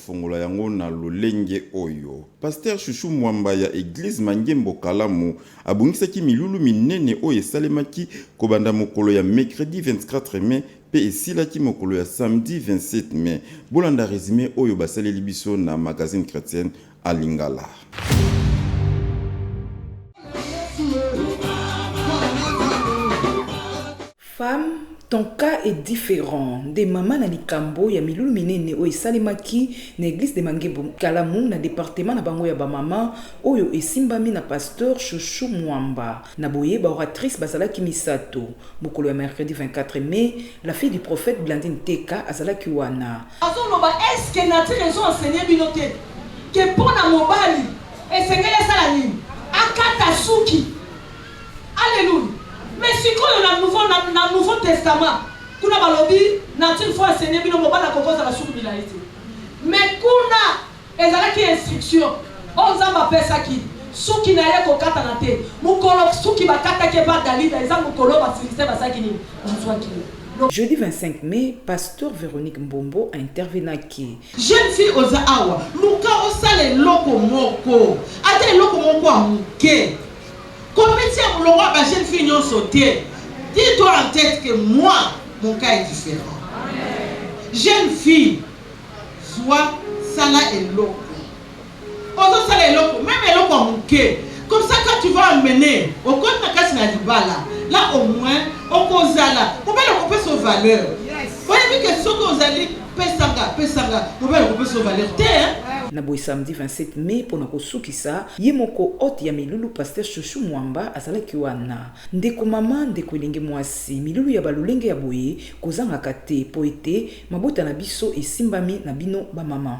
Fungola yango na lolenge oyo. Pastere Chouchou Mwamba ya Eglise Mangembo Kalamu abongisaki milulu minene oyo esalemaki kobanda mokolo ya mecredi 24 mai mpe esilaki mokolo ya samedi 27 mai. Bolanda resume oyo basaleli biso na Magazine Chretienne en Lingala. Femme ton cas est different nde mama na likambo ya milulu minene oyo esalemaki na eglise de mangembo nkalamu na departement na bango ya ba mama oyo esimbami na pasteur chouchou mwamba na boye ba oratrice bazalaki misato mokolo ya mercredi 24 mai la fille du prophète blandine teka azalaki wana azoloba est ce que nature ezo enseigner bino te que pona mobali esengeli asala nini akata suki. Alleluia mais sikoyo na nouveau na na nouveau testament kuna balobi nature faut enseigner bino mobali akoki kozala suku milayi te mais kuna ezalaki instruction oyo nzambe apesaki suki na ye kokatana te mokolo suki bakataki epa dalida eza mokolo basilistin basalaki nini bazwaki ye Jeudi 25 mai, pasteur Veronique Mbombo a intervenaki. Jeune fille oza awa, luka osala eloko moko, ata eloko moko ya moke. Competition ya mulongo ya ba jeune fille nionso te dis toi en tete que moi mon cas est different jeune fille zua sala eloko ozo sala eloko meme eloko ya muke comme ça quand tu vas emmener okoti na kati na libala là au moins okozala mobali okopesa o valeur oyebi que soki ozali pesanga pesanga mobali okopesa o valeur te hein. Na boye samedi 27 mai pona kosukisa Sa, ye moko hote ya milulu pasteur chouchou mwamba azalaki wana. Ndeko mama, ndeko elenge mwasi, milulu ya ba lolenge ya boye kozangaka te po ete mabota na biso esimbami na bino ba mama.